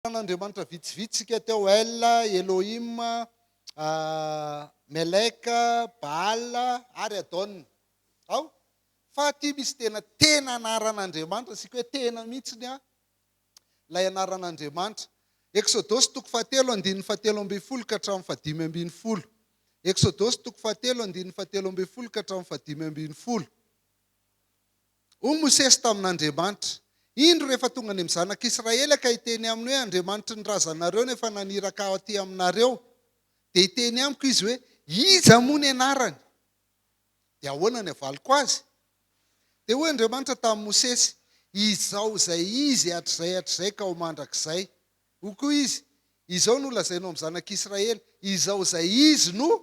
Andriamanitra vitsivitsy isika teo El, Elohim, Melek, Baal ary Adon. Ao? Fa aty misy tena tena anaran'Andriamanitra sika hoe tena mihitsy ny a ilay anaran'Andriamanitra. Eksodosy toko fahatelo andininy fahatelo ambin'ny folo ka hatramin'ny fahadimy ambin'ny folo. Eksodosy toko fahatelo andininy fahatelo ambin'ny folo ka hatramin'ny fahadimy ambin'ny folo. Hoy Mosesy tamin'Andriamanitra, Indro rehefa tonga any amin'ny zanak'Israely ka hiteny aminy hoe, Andriamanitry ny razanareo no efa naniraka ahy aty aminareo, dia hiteny amiko izy hoe, Iza moa ny anarany? Dia ahoana ny havaliko azy? Dia hoy Andriamanitra tamin'i Mosesy, Izao izay izy hatrizay hatrizay ka ho mandrakizay. Hoy koa izy, Izao no holazainao amin'ny zanak'Israely, Izao izay izy no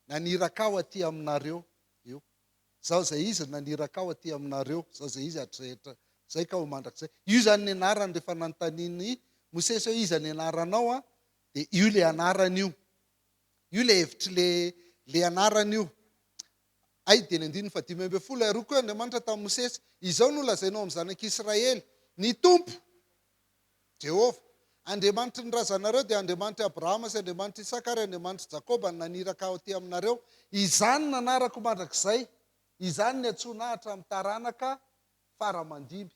naniraka ahy aty aminareo. Izaho izay izy naniraka aho aty aminareo, Izaho izay izy hatrehetra izay ka ho mandrakizay. Io izany ny anarany rehefa nanontanian'i Mosesy hoe, Iza ny anaranao? Dia io ilay anarany io. Io ilay hevitr'ilay anarany io. Hay dia ny andininy fahadimy ambin'ny folo, ary hoy koa Andriamanitra tamin'i Mosesy, Izao no lazainao amin'ny zanak'Israely, Ny Tompo, Jehovah. Andriamanitry ny razanareo dia Andriamanitr'i Abrahama sy Andriamanitr'i Isaka ary Andriamanitr'i Jakoba no naniraka ahy aty aminareo. Izany no anarako mandrakizay, izany no iantsoana ahy hatramin'ny taranaka fara-aman-dimby.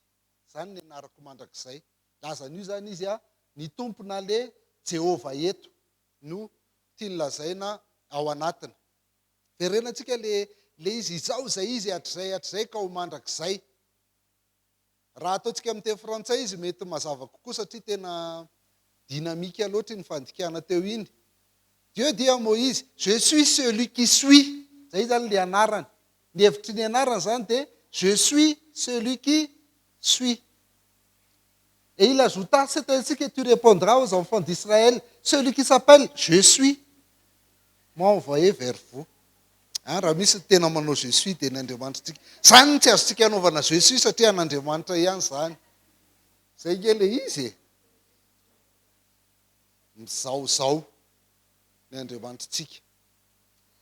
Izany no anarako mandrakizay. Nilaza an'io izany izy, ny Tompo na le Jehovah eto no tiany lazaina ao anatiny. Verenantsika le le izy, Izaho izay izy hatrizay hatrizay ka ho mandrakizay. Raha ataontsika amin'ny teny frantsay izy mety mazava kokoa satria tena dynamique loatra iny fandikana teo iny. Dieu dit à Moïse, je suis celui qui suis. Izay izany ilay anarany. Ny hevitry ny anarany izany dia je suis celui qui suis. Et il ajouta, C'est ainsi que tu repondras aux enfants d'Israël, Celui qui s'appelle Je suis m'a envoyé vers vous. An, raha misy ny tena manao Je suis dia ny Andriamanitritsika. Izany no tsy azontsika anaovana Je suis satria an'Andriamanitra ihany izany. Izay nge ilay izy e. Mizahozaho ny Andriamanitritsika.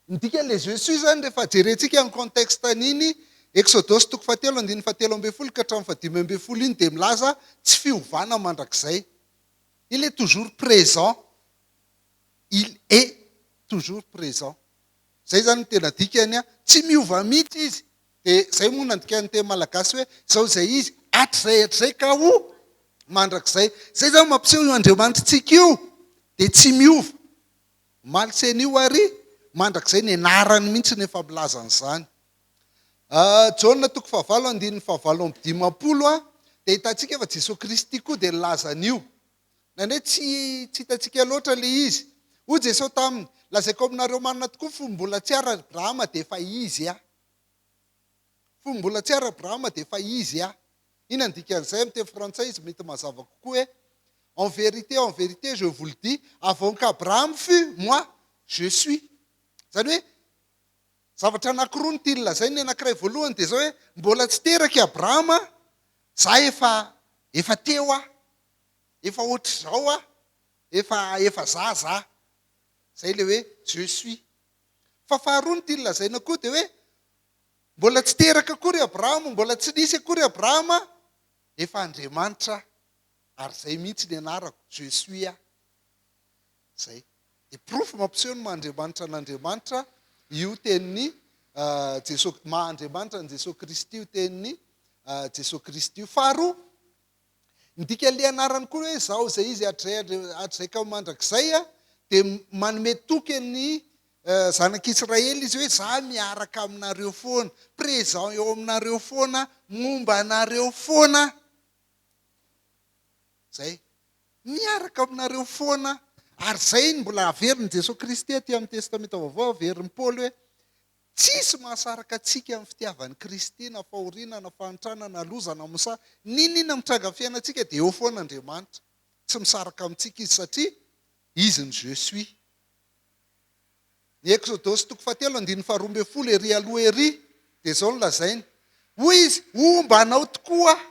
Ny dikan'ilay je suis zany rehefa jerentsika ny contexte an'iny Exodosy toko fahatelo andininy fahatelo ambin'ny folo ka hatramin'ny fahadimy ambin'ny folo iny dia milaza tsy fiovana mandrakizay. Il est toujours présent, il est toujours présent. Izay zany no tena dikany a! Tsy miova mihitsy izy. Dia izay moa no nandikan'ny teny malagasy hoe izao izay izy hatrizay hatrizay ka ho mandrakizay. Izay zany no mampiseho io Andriamanitrintsika io dia tsy miova. Maltsenio ary mandrakizay ny anarany mihitsy no efa milaza an'izany. Jaona toko fahavalo andininy fahavalo amby dimampolo a, dia ahitantsika fa Jesoa Kristy koa dia nilaza an'io. Na ny hoe tsy tsy hitantsika loatra ilay izy. Hoy Jesoa taminy, lazaiko aminareo marina tokoa fa mbola tsy ary Abrahama dia efa izy a. Fony mbola tsy ary Abrahama dia efa izy a! Ina ny dikan'izay amin'ny teny frantsay izy mety mazava kokoa hoe En vérité, en vérité, je vous le dis, avant qu'Abraham fût, moi, je suis. Izany hoe zavatra anankiroa no tiany lazaina, ny anankiray voalohany dia izao hoe mbola tsy teraka i Abrahama za efa efa teo aho, efa hoatr'izao aho, efa efa za za. Izay ilay hoe je suis. Fa faharoa ny tiany lazaina koa dia hoe Mbola tsy teraka akory Abrahama, mbola tsy nisy akory Abrahama, efa Andriamanitra ary izay mihitsy ny anarako, Je suis a. Izay. Dia porofo mampiseho ny maha-Andriamanitra an'Andriamanitra io tenin'i Jesosy, maha-Andriamanitra an'i Jesosy Kristy io tenin'i Jesosy Kristy io. Faharoa, Midika le anarany koa hoe izaho izay izy hatrizay hatrizay ka ho mandrakizay a! dia manome toky an'ny zanak'Israely izy hoe za miaraka aminareo foana, présent eo aminareo foana, momba anareo foana aho. Zay. Miaraka aminareo foana aho. Ary zay no mbola averin'i Jesoa Kristy aty amin'ny Testamenta Vaovao, averin'i Paoly hoe, Tsisy mahasaraka antsika amin'ny fitiavan'i Kristy na fahoriana na fahantrana na loza na msa n'inon'inona mitranga amin'ny fiainantsika dia eo foana Andriamanitra. Tsy misaraka amintsika Izy satria Izy no Je suis. Ny Eksodosy toko fahatelo andininy faharoa ambin'ny folo ery aloha ery dia izao no lazainy, Hoy Izy, Homba anao tokoa Aho.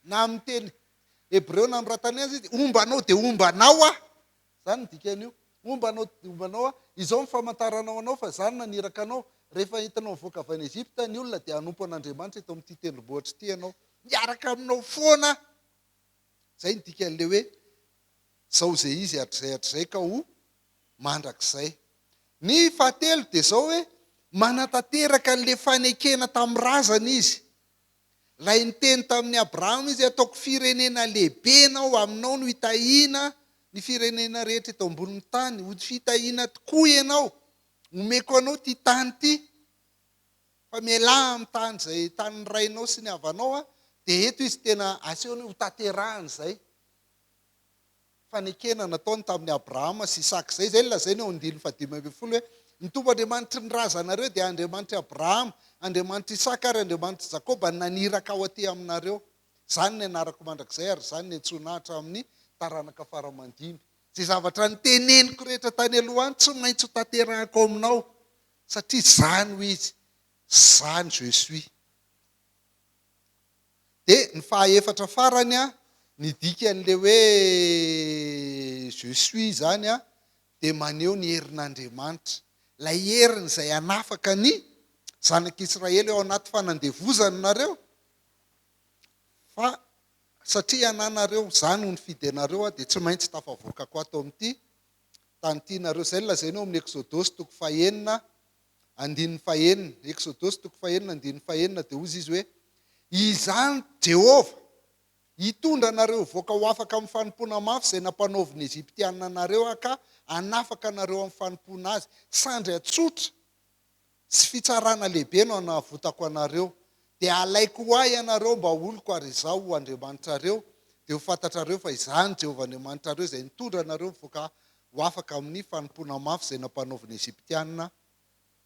Na amin'ny teny Hebreo nanoratany azy izy, Homba anao dia homba anao Aho. Izany ny dikan'io. Momba anao, momba anao aho, izao ny famantaranao anao fa izaho no naniraka anao. Rehefa entinao nivoaka avy any Egypta ny olona, dia hanompo an'Andriamanitra eto amin'ity tendrombohitra ity ianao. Miaraka aminao foana aho. Izay ny dikan'ilay hoe, Izao izay izy hatrizay hatrizay ka ho mandrakizay. Ny fahatelo dia izao hoe, Manatanteraka an'ilay fanekena tamin'ny razana izy. Ilay niteny tamin'i Abrahama izy, Hataoko firenena lehibe ianao, aminao no hitahiana ny firenena rehetra eto ambonin'ny tany. Ho fitahiana tokoa ianao. Omeko anao ity tany ity. Fa mialà amin'ny tany izay tanin'ny rainao sy ny havanao. Dia eto izy tena asehony hoe ho tanterahany izay. fanekena nataony tamin'i Abrahama sy Isaka. Izay izay no lazainy ao andininy fahadimy ambin'ny folo hoe, Ny Tompo Andriamanitry ny razanareo dia Andriamanitr'i Abrahama, Andriamanitr'i Isaka ary Andriamanitr'i Jakoba naniraka aho aty aminareo. Izany ny anarako mandrakizay ary izany no iantsoana ahy hatramin'ny taranaka fara-aman-dimy. Izay zavatra noteneniko rehetra tany aloha any tsy maintsy ho tanterahiko ao aminao, satria izany hoy Izy, Za no Je suis. Dia ny fahaefatra farany an, ny dikan'ilay hoe je suis izany an, dia maneho ny herin'Andriamanitra. Ilay heriny izay hanafaka ny zanak'Israely ao anaty fanandevozana nareo, fa satria ananareo, izaho no nifidy anareo an, dia tsy maintsy tafavoakako ato amin'ity tany ity nareo. Izay no lazaina ao amin'ny Eksodosy toko fahenina andininy fahenina, Eksodosy toko fahenina andininy fahenina, dia hozy izy hoe, Izany Jehovah, hitondra anareo hivoaka ho afaka amin'ny fanompoana mafy izay nampanaovin'ny Egyptiana anareo aho ka hanafaka anareo amin'ny fanompoana azy. Sandry tsotra sy fitsarana lehibe no hanavotako anareo. Dia halaiko ho ahy ianareo mba ho oloko ary izaho ho Andriamanitrareo. Dia ho fantatrareo fa izaho no Jehovah Andriamanitrareo izay nitondra anareo nivoaka ho afaka amin'ny fanompoana mafy izay nampanaovin'ny Egyptiana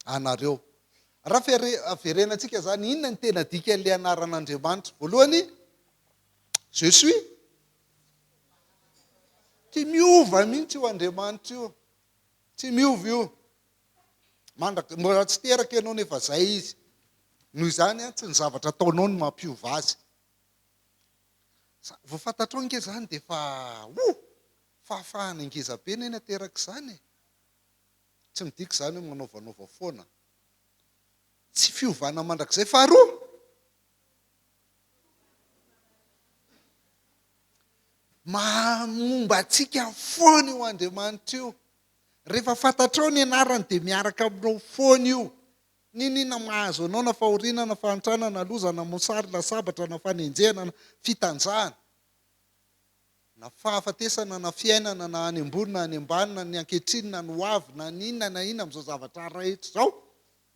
anareo. Raha verenantsika izany, inona ny tena dikan'ilay anaran'Andriamanitra? Voalohany, Je suis. Tsy miova mihitsy io Andriamanitra io. Tsy miova io. Mandraka, mbola tsy teraka ianao nefa izay izy. Noho izany, tsy ny zavatra ataonao no mampiova azy. Vao fantatrao ange izany dia efa, oh, Fahafahana ngezabe anie ny ateraka izany e! Tsy midika izany hoe manaovanaova foana. Tsy fiovana mandrakizay faharoa. Momba antsika foana io Andriamanitra io. Rehefa fantatrao ny anarany dia miaraka aminao foana io. N'inona mahazo anao na fahoriana na fahantrana na loza na mosary na sabatra na fanenjehana na fitanjahana. Na fahafatesana na fiainana na any ambony na any ambany na ny ankehitriny na ny ho avy na ny inona na inona amin'izao zavatra rehetra izao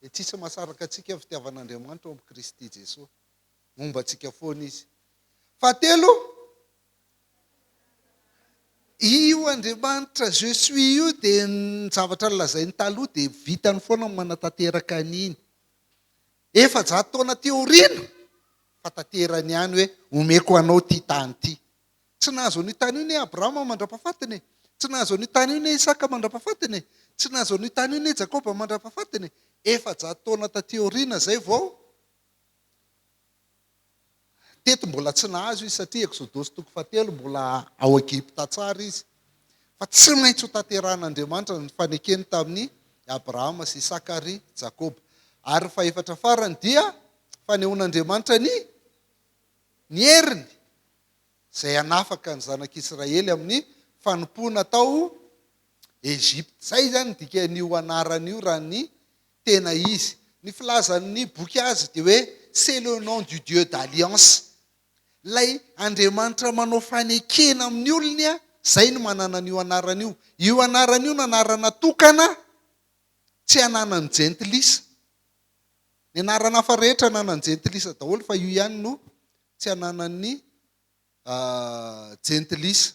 dia tsy hisy mahasaraka antsika ny fitiavan'Andriamanitra ao amin'i Kristy Jesoa. Momba antsika foana Izy. Fahatelo, io Andriamanitra Je suis io dia ny zavatra nolazainy taloha dia vitany foana ny manatanteraka an'iny. efajato taona aty aoriana fa tanterany ihany hoe omeko anao ity tany ity. Tsy nahazo an'io tany io anie Abrahama mandra-pahafatiny e. Tsy nahazo an'io tany io anie Isaka mandra-pahafatiny e. Tsy nahazo an'io tany io anie Jakoba mandra-pahafatiny e. Efajato taona taty aoriana izay vao Teto mbola tsy nahazo izy satria Eksodosy toko fahatelo mbola ao Egypta tsara izy. Fa tsy maintsy hotanterahan'Andriamanitra ny fanekeny tamin'i Abrahama sy Isaka ary Jakoba. Ary ny fahefatra farany dia fanehoan'Andriamanitra ny ny heriny izay hanafaka ny zanak'Israely amin'ny fanompoana tao Egypta. Izay izany ny dikan'io anarana io raha ny Tena izy. Ny filazan' ny boky azy dia hoe C'est le nom du Dieu d'alliance. Ilay Andriamanitra manao fanekena amin' ny olony, izay no manana an' io anarana io. Io anarana io no anarana tokana, tsy ananan' ny jentilisa. Ny anarana hafa rehetra ananan' ny jentilisa daholo fa io ihany no tsy ananan' ny jentilisa.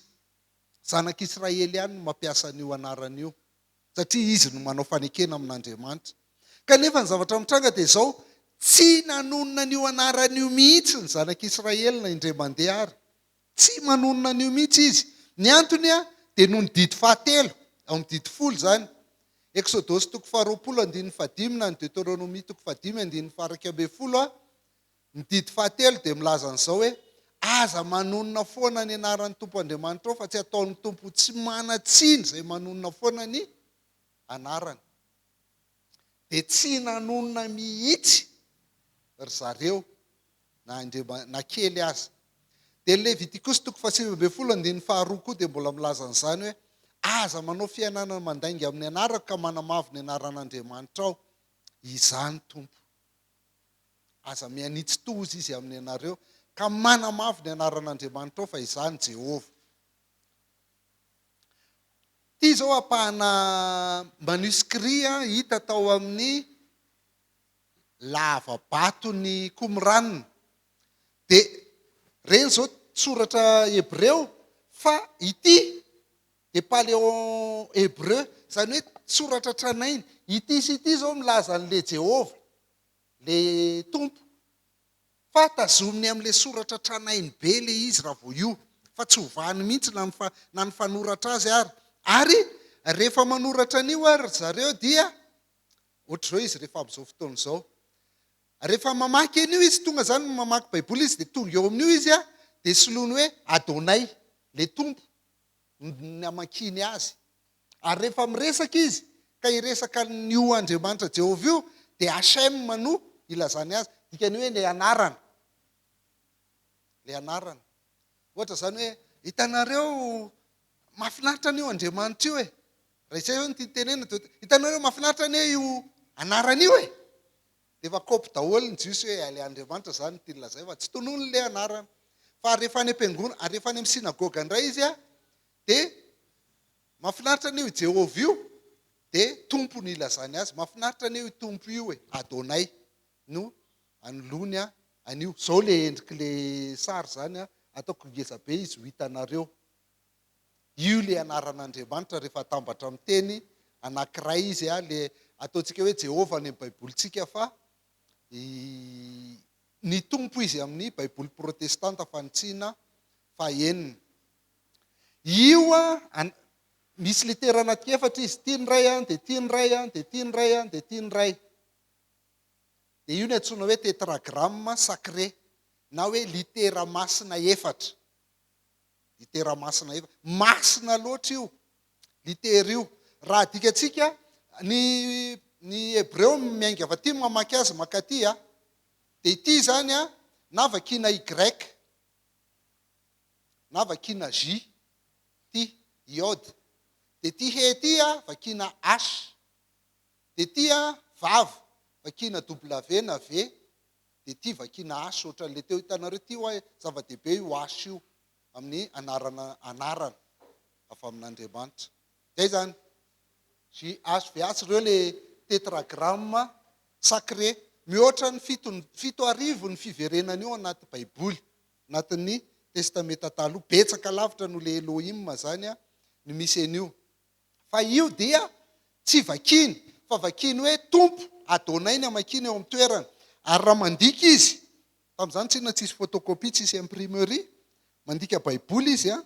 Zanak' Israely ihany no mampiasa an' io anarana io. satria izy no manao fanekena amin'Andriamanitra. Kanefa ny zavatra mitranga dia izao, tsy nanonona an'io anarana io mihitsy ny zanak'Israely na indray mandeha ary. Tsy manonona an'io mihitsy izy. Ny antony dia noho ny didy fahatelo, ao amin'ny didy folo izany. Eksodosy toko faharoapolo andininy fahadimy na ny Deoteronomia toko fahadimy andininy faha iraika ambin'ny folo, Ny didy fahatelo dia milaza an'izao hoe, Aza manonona foana ny anaran'ny Tompo Andriamanitrao, fa tsy ataon'ny Tompo ho tsy manan-tsiny izay manonona foana ny anarany. Dia tsy nanonona mihitsy ry zareo na indreba na kely aza. Dia ny Levitikosy toko fahasivy ambin'ny folo andininy faharoa koa dia mbola milaza an'izany hoe, Aza manao fihenanana mandainga amin'ny anarako ka manamavo ny anaran'Andriamanitrao. Izaho ny Tompo. Aza mihanitsy toa hozy izy amin'ny anareo, ka manamavo ny anaran'Andriamanitrao, fa izany Jehovah. Ity izao ampahana manuscrit hita tao amin'ny lava-baton'i Qumran. Dia ireny izao soratra hebreo, fa ity dia Paléon-Hébreu, izany hoe Soratra Tranainy. Ity sy ity izao milaza an'ilay Jehovah, ilay Tompo, fa tazominy amin'ilay soratra tranainy be ilay izy raha vao io, fa tsy hovahany mihitsy na ny na ny fanoratra azy ary. Ary rehefa manoratra an'io ary ry zareo dia ohatr'izao izy rehefa amin'izao fotoana izao. Rehefa mamaky an'io izy, tonga izany mamaky Baiboly izy dia tonga eo amin'io izy dia soloiny hoe Adonai, ilay Tompo. ny hamakiany azy. Ary rehefa miresaka izy ka hiresaka an'io Andriamanitra Jehovah io, dia HM no ilazany azy. Dikany hoe ilay anarana. Ilay anarana. Ohatra izany hoe, hitanareo, mahafinaritra anie io Andriamanitra io e. Raha izay izao no tiany tenenina, dia hitanareo, mahafinaritra anie io anarana io e. Dia efa kôpy daholo ny jiosy hoe Ilay Andriamanitra izany no tiany lazaina fa tsy tonony ilay anarana. Fa ary rehefa any am-piangonana, ary rehefa any amin'ny synagoga indray izy an, dia mahafinaritra anie io Jehovah io, dia Tompo no ilazany azy. Mahafinaritra anie io Tompo io e, Adonai no anoloany an, an'io. Izao ilay endrik'ilay sary izany an, ataoko ngeza be izy ho hitanareo. Io le anaran'Andriamanitra rehefa atambatra amin'ny teny anankiray izy a, le ataontsika hoe Jehovah any amin'ny Baibolintsika fa i ny Tompo izy amin'ny Baiboly protestanta fanintsiana fahenina. Io a, an, misy litera anaty efatra izy, ity ny Ray a, dia ity ny Ray a, dia ity ny Ray a, dia ity ny Ray. Dia io no antsoina hoe tetragramme sacré na hoe litera masina efatra. Litera masina efa. Masina loatra io litera io. Raha adikantsika, ny ny Hebreo miainga avy aty mamaky azy makaty a. Dia ity izany a, na vakiana Y, na vakiana J, ity, Yod. Dia ity He ity a, vakiana H. Dia ity a, Vav, vakiana W na V. dia ity vakiana H ohatran'ilay teo hitanareo ity hoa zava-dehibe io H io amin'ny anarana anarana avy amin'Andriamanitra. Izay izany. JHVH ireo ilay tetragramme sacré. Mihoatra ny fito fito arivo ny fiverenany eo anaty Baiboly, anatin'ny Testamenta Taloha. Betsaka lavitra noho ilay Elohim izany ny misy an'io. Fa io dia tsy vakiny, fa vakiny hoe Tompo, Adonai ny hamakiana eo amin'ny toerany. Ary raha mandika izy, tamin'izany tsinona tsisy photocopie, tsisy imprimerie, mandika Baiboly izy an,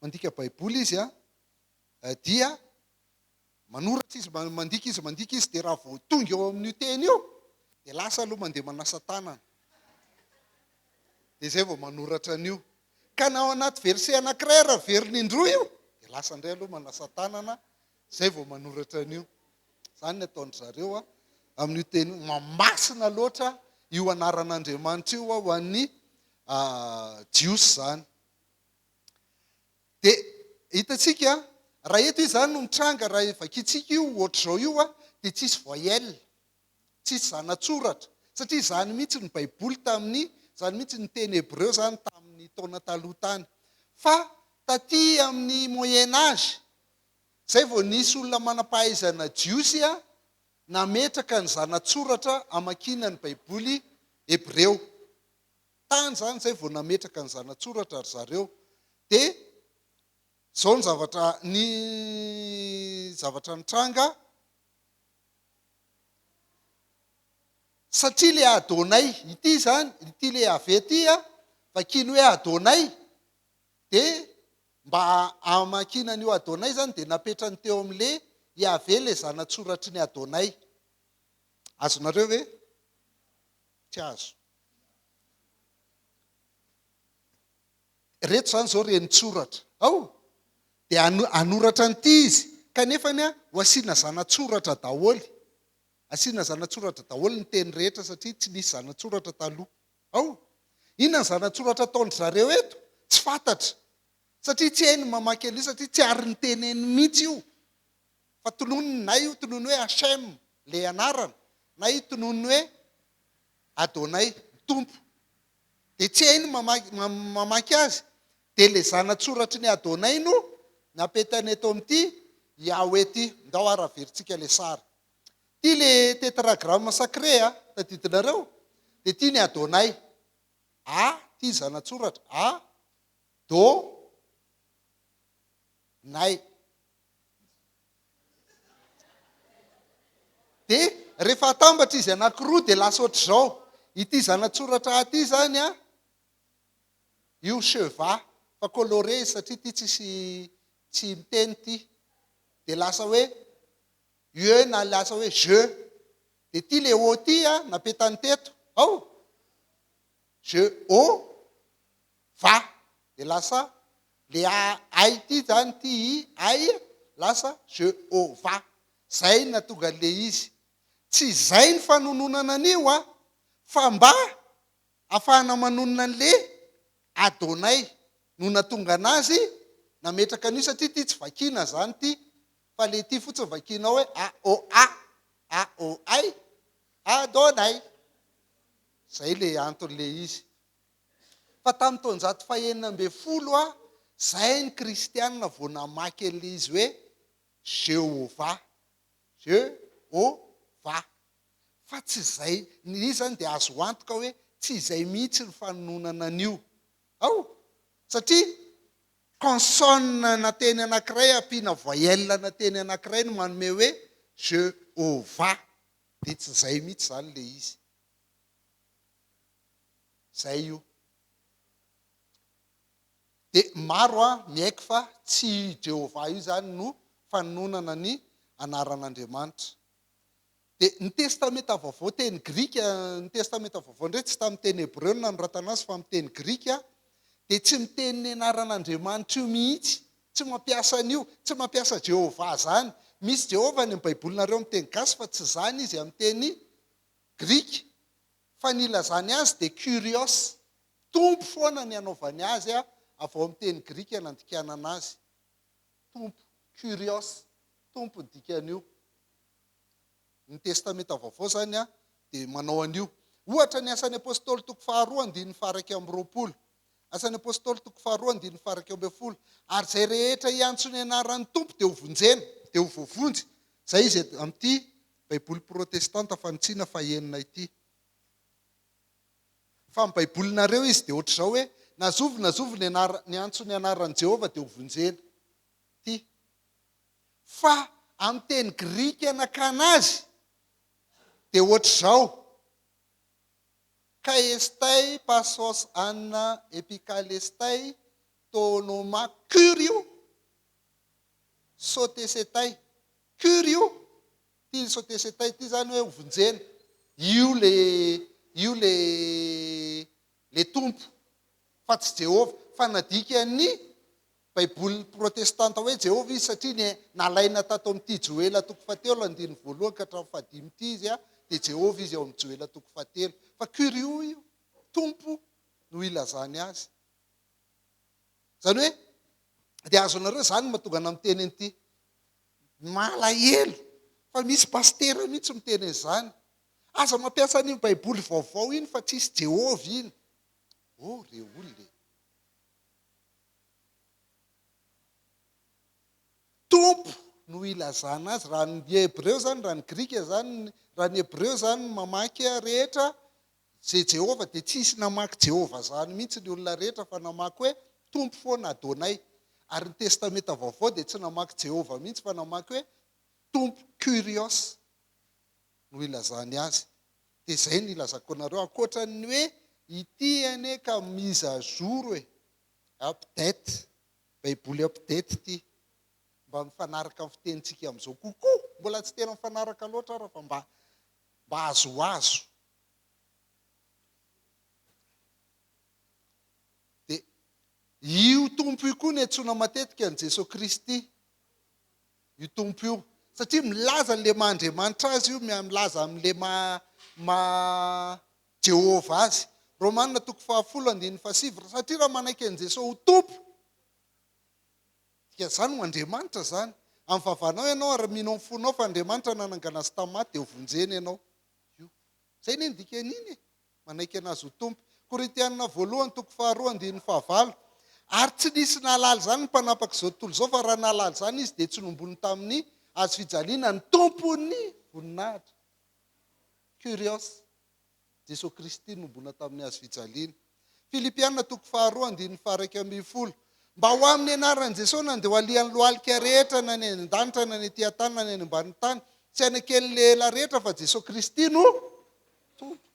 mandika Baiboly izy an, dia manoratra izy, mandika izy, mandika izy, dia raha vao tonga eo amin'io teny io, dia lasa aloha mandeha manasa tanana. Dia izay vao manoratra an'io. Ka na ao anaty verset anankiray ary averiny indroa io dia lasa indray aloha manasa tanana izay vao manoratra an'io. Izany ny ataon-dry zareo amin'io teny io. Mamasina loatra io anaran'Andriamanitra io ho an'ny Jiosy izany. Dia hitantsika, raha eto izany no mitranga, raha vakintsika io ohatr'izao io, dia tsisy voyelle. tsisy zanatsoratra, satria izany mihitsy ny baiboly tamin'ny, izany mihitsy ny teny hebreo izany tamin'ny taona taloha tany. Fa taty amin'ny moyen age, izay vao nisy olona manam-pahaizana jiosy nametraka ny zanatsoratra amakiana ny baiboly hebreo. Tany izany izay vao nametraka ny zanatsoratra ry zareo. Dia izao ny zavatra, ny zavatra nitranga, Satria ilay Adonai ity izany, ity ilay Yaveh ity an, vakiany hoe Adonai, dia mba hamakiana an'io Adonai izany dia napetrany teo amin'ilay Yaveh ilay zana-tsoratry ny Adonai. Azonareo ve? Tsy azo. Ireto izany izao renin-tsoratra. Ao! Dia hano, hanoratra an'ity izy. Kanefa ny ho asiana zana-tsoratra daholo. Asiana zana-tsoratra daholo ny teny rehetra satria tsy nisy zana-tsoratra taloha. Ao! Inona ny zana-tsoratra ataon-dry zareo eto? Tsy fantatra. Satria tsy hay ny mamaky an'io satria tsy ary niteneniny mihitsy io. Fa tononiny, na io tonony hoe Hashem, ilay anarana, na io tonony hoe Adonai, ny Tompo. Dia tsy hay ny mamaky azy. Dia ilay zana-tsoratry ny Adonai no napetany eto amin'ity Yahweh ity. Ndao ary averintsika ilay sary. Ity ilay Tetragramme sacré a, tadidinareo? Dia ity ny Adonai. A, ity zana-tsoratra. A, Do, Nai. Dia rehefa atambatra izy anankiroa dia lasa ohatr'izao. Ity zana-tsoratra A ity izany an, io cheva fa coloré izy satria ity tsisy tsy miteny ity. Dia lasa hoe ue na lasa hoe je. Dia ity le o ity an, napetany teto. Ao! Je o. va de lasa le a ay ity zany ty i ay e lasa je o va zay natonga le izy tsy zay ny fanononana an'io a fa mba afahana manonona ny le adonay no natonga anazy nametraka an'io satria ity tsy vakina zany ty fa le ity fotsiny vakina ao hoe a o a a o ay adonay zay le anton'le izy Fa tamin'ny taonjato fahenina ambin'ny folo ha, izay ny Kristianina vao namaky an'ilay izy hoe Jehovah, Je-ho-va. Fa tsy izay, ny izy izany dia azo antoka hoe tsy izay mihitsy ny fanononana an'io. Ao! Satria consonne na teny anankiray ampiana voyelle na teny anankiray no manome hoe Je-ho-va. Dia tsy izay mihitsy izany ilay izy. Zay io. Dia maro an, miaiky fa tsy i Jehovah io izany no fanononana ny anaran'Andriamanitra. Dia ny Testamenta Vaovao teny grika, ny Testamenta Vaovao indray tsy tamin'ny teny hebreo no nanoratana azy fa amin'ny teny grika, dia tsy miteny ny anaran'Andriamanitra io mihitsy, tsy mampiasa an'io, tsy mampiasa Jehovah izany. Misy Jehovah any amin'ny Baibolinareo amin'ny teny gasy fa tsy izany izy amin'ny teny grika. fa ny ilazany azy dia Kyrios, Tompo foana ny anaovany azy a, avy ao amin'ny teny grika nandikanana azy, Tompo, Kyrios, Tompo ny dikan'io. Ny Testamenta Vaovao izany a, dia manao an'io. Ohatra, ny Asan'ny Apôstôly toko faharoa andininy faharaika amby roapolo, Asan'ny Apôstôly toko faharoa andininy faharaika ambin'ny folo, Ary izay rehetra hiantso ny anaran'ny Tompo dia ho vonjena, dia ho voavonjy, izay izy amin'ity Baiboly protestanta fanintsiana fahenina ity. Fa amin'ny Baibolinareo izy dia hoatr'izao hoe, Na zovy na zovy niantso ny anaran'i Jehovah dia hovonjena. Ty. Fa amin'ny teny grika nakana azy dia hoatr'izao, Kai'estei pasos anna epikalestei to noma Kyriou sotesetei Cure io pile sauter ses taille ity zany hoe hovonjena io le io le le tompo fa tsy Jehovah fa nadikan'ny baiboly protestanta hoe Jehovah izy satria ny nalaina tato amin'ity Joela toko fahatelo andininy voalohany ka hatramin'ny fahadimy ity izy a dia Jehovah izy ao amin'ny Joela toko fahatelo fa cure io io tompo no ilazany azy izany hoe dia azonareo izany mahatonga anao miteny an'ity Malahelo fa misy pasitera mihitsy miteny an'izany. Aza mampiasa an'iny baiboly vaovao iny fa tsisy Jehovah iny. Oh re olona e! Tompo no ilazana azy. Raha ny hebreo izany, raha ny grika izany, raha ny hebreo izany mamaky rehetra Je Jehovah dia tsy nisy namaky Jehovah zany mihitsy ny olona rehetra fa namaky hoe Tompo foana Adonai. Ary ny Testamenta Vaovao dia tsy namaky Jehovah mihitsy fa namaky hoe Tompo Kyrios no ilazany azy. Dia izay no ilazako anareo ankoatran'ny hoe ity anie ka mise à jour e, update, Baiboly update ity. Mba mifanaraka amin'ny fitenintsika amin'izao kokoa. Mbola tsy tena mifanaraka loatra ara fa mba mba azoazo. Dia io Tompo io koa no antsoina matetika an'i Jesoa Kristy, io Tompo io. Satria milaza an'ilay maha Andriamanitra azy io, milaza amin'ilay maha, maha Jehovah azy. Romana toko fahafolo andininy fahasivy, satria raha manaiky an'i Jesoa ho Tompo, dia izany ho Andriamanitra izany. Amin'ny vavanao ianao ary mino amin'ny fonao fa Andriamanitra nanangana azy tamin'ny maty dia ho vonjena ianao. io. Izay anie ny dikan'iny e! Manaiky an'Azy ho Tompo. Korintiana voalohany toko faharoa andininy fahavalo. Ary tsy nisy nahalala izany ny mpanapak'izao tontolo izao, fa raha nahalala izany izy dia tsy nombony tamin'ny Hazo fijaliana ny Tompon'ny voninahitra. Kyrios. Jesoa Kristy nombona tamin'ny Hazo fijaliana. Filipiana toko faharoa andininy faharaika ambin'ny folo. Mba ho amin'ny anaran'i Jesosy na dia ho alian'ny lohalika rehetra na ny any an-danitra na ny ety an-tany na ny any ambanin'ny tany, tsy haneken'ilay ela rehetra fa Jesosy Kristy no Tompo.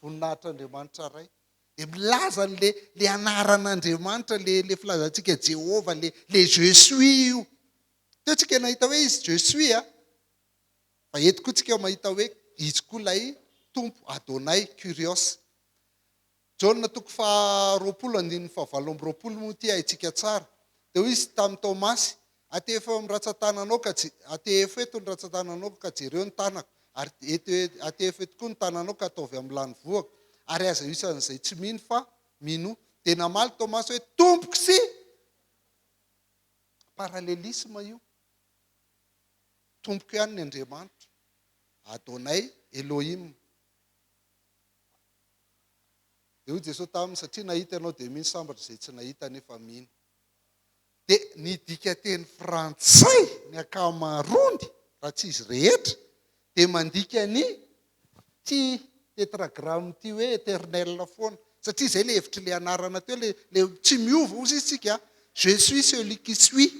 Voninahitr'Andriamanitra Ray. Dia milaza ny le, le anaran'Andriamanitra, le, le filazantsika Jehovah, le, le Je suis io. Teo tsika nahita hoe izy Je suis a. Fa eto koa tsika mahita hoe izy koa lay Tompo, Adonai, Kurios. Jaona toko faha roapolo andininy faha valo amby roapolo moa ity haintsika tsara. Dia hoy Izy tamin'i Tomasy, Atehefo eo amin'ny ratsan-tananao ka, atehefo eto ny ratsan-tananao ka jereo ny tanako, ary eto, atehefo eto koa ny tananao ka ataovy amin'ny lanivoako, ary aza isan'izay tsy mino fa minoa. Dia namaly Tomasy hoe, Tompoko sy. Parallelisme io. Tompoko ihany ny Andriamanitra. Adonai, Elohim. Dia hoy Jesoa taminy, satria nahita ianao dia mino, sambatra izay tsy nahita nefa mino. Dia ny dikanteny frantsay, ny ankamaroany, raha tsy izy rehetra, dia mandika ny ity tetragramme ity hoe eternel foana. Satria izay ilay hevitr'ilay anarana teo, ilay, ilay tsy miova, hozy izy tsika, je suis celui qui suis.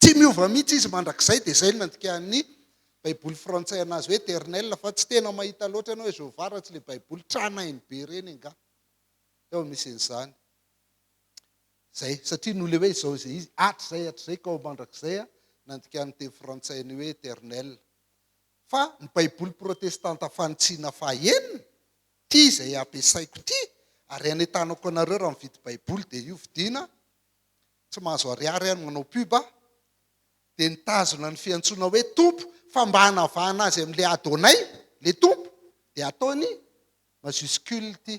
Tsy miova mihitsy izy mandrakizay, dia izay no nandikàn'ny Baiboly frantsay an'azy hoe eternel, fa tsy tena mahita loatra ianao hoe Jehovah raha tsy ilay Baiboly tranainy be ireny angaha. Teo amin'ny nisian'izany. Izay, satria noho ilay hoe izao izay izy, hatrizay, hatrizay ka ho mandrakizay, nandikàn'ny teny frantsay an'io hoe eternel. Fa ny Baiboly protestanta fanitsiana fahaenina, ity izay ampiasaiko ity, ary hanentanako anareo raha mividy Baiboly, dia io vidiana, tsy mahazo ariary aho ny manao pub a, dia nitazona ny fiantsoana hoe Tompo fa mba hanavahana azy amin'ilay Adonai, ilay Tompo, dia ataony majuscule ity.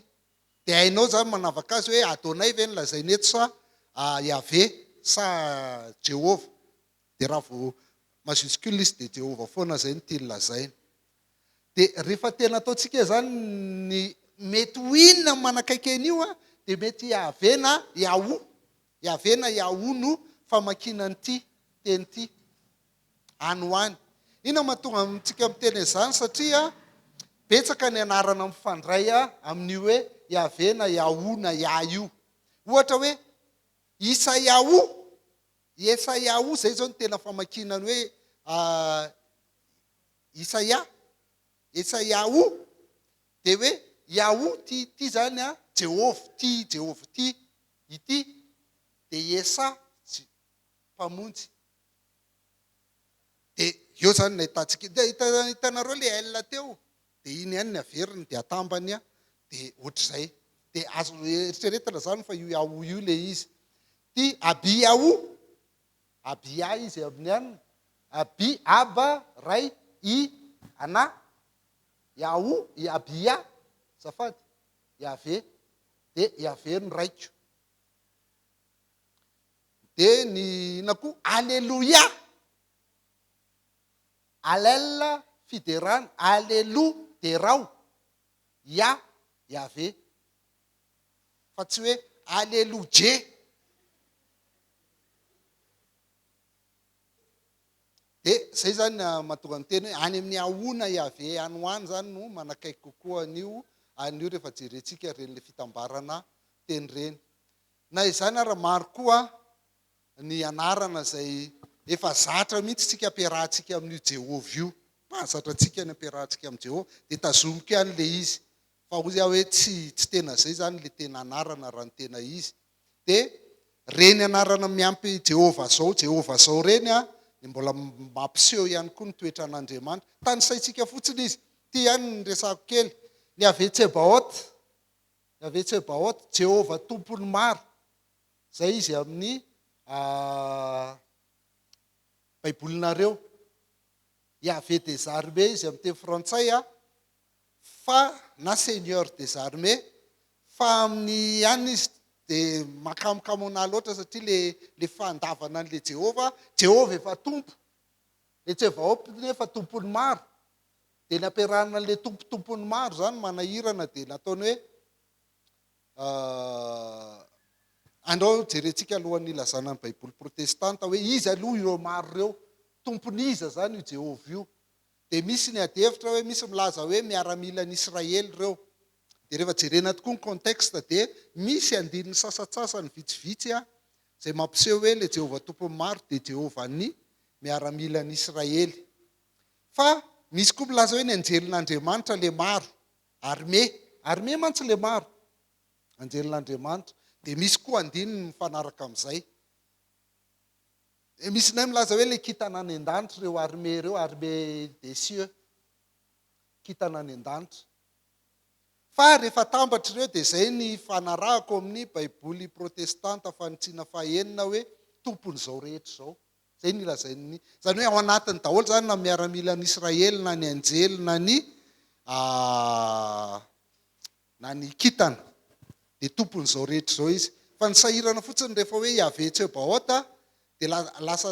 Dia hainao izany manavaka azy hoe Adonai ve no lazaina eto sa Yaveh sa Jehovah. Dia raha vao majuscule izy dia Jehovah foana izay no tiany lazaina. Dia rehefa tena ataontsika izany ny mety ho inona ny manakaiky an'io a, dia mety Yahvé na Yahu. Yahvé na Yahu no famakiana an'ity teny ity, any ho any. Inona no mahatonga antsika miteny an'izany? Satria betsaka ny anarana mifandray amin'io hoe Yahvé na Yahu na Yah io. Ohatra hoe Isayahu, Yesayahu, izay izao no tena famakiana ny hoe Isaia, Esaiaho, dia hoe Yahoo ity, ity izany an, Jehovah ity, Jehovah ity, ity dia Yesah, Je, Mpamonjy. Dia eo izany no nahitantsika, dia hita, hitanareo ilay El teo, dia iny ihany ny averiny, dia atambany an, dia ohatr'izay. Dia azo eritreretina izany fa io Yahoo io ilay izy. Ity Abiyahu, Abia izy amin'ny an. Abi, Aba, Ray, I, Ana, Yahu, i Abia, azafady, Yaveh, dia Yaveh no Raiko. Dia ny inona koa? Aleloia! Alel, fiderana, Alelu, derao, Yah, Yaveh. fa tsy hoe Alelodje. Dia izay izany ah, mahatonga ny teny hoe any amin'ny ahona Yaveh any ho any izany no manakaiky kokoa an'io an'io rehefa jerentsika ireny ilay fitambarana teny ireny. Na izany ara maro koa ny anarana izay efa zatra mihitsy isika ampiarahantsika amin'io Jehovah io. Mahazatra antsika ny ampiarahantsika amin'i Jehovah dia tazomiko ihany ilay izy Fa hoy aho hoe tsy tsy tena izay izany ilay tena anarana raha ny tena izy. Dia ireny anarana miampy Jehovah izao, Jehovah izao ireny an, dia mbola mampiseho ihany koa ny toetran'Andriamanitra. Tanisaintsika fotsiny izy. Ity ihany ny resahako kely. Ny Yaveh Tsebaot, Yaveh Tsebaot, Jehovah Tompon'ny maro. Izay izy amin'ny Baibolinareo. Yaveh des armées izy amin'ny teny frantsay an. fa na seigneur des armées fa amin'ny ihany izy dia makamokamo anah loatra satria le le fandavana an'le Jehovah, Jehovah efa tompo, le Tsevaoth anie efa tompon'ny maro, dia ny ampiarahana an'le tompo tompon'ny maro zany manahirana dia nataony hoe andao jerentsika alohan'ny hilazana ny baiboly protestanta hoe iza aloha ireo maro ireo, tompon'iza zany io Jehovah io? dia misy ny adihevitra hoe misy milaza hoe miaramilan'i Israely ireo. Dia rehefa jerena tokoa ny contexte dia misy andininy sasatsasany vitsivitsy an, izay mampiseho hoe ilay Jehovah Tompon'ny maro dia Jehovan'ny miaramilan'i Israely. Fa misy koa milaza hoe ny anjelin'Andriamanitra ilay maro, armée, armée mantsy ilay maro, anjelin'Andriamanitra. Dia misy koa andininy mifanaraka amin'izay. Dia misy nay milaza hoe ilay kintana any an-danitra ireo armée ireo, armée des cieux, kintana any an-danitra. Fa rehefa atambatra ireo dia izay ny ifanarahako amin'ny baiboly protestanta fanitsiana fahenina hoe tompon'izao rehetra izao. Izay ny lazain'ny, izany hoe ao anatiny daholo izany na miaramilan'Israely na ny anjely na ny Na ny kintana dia tompon'izao rehetra izao izy. Fa ny sahirana fotsiny rehefa hoe Yaveh Tsebaot dia lasa lasa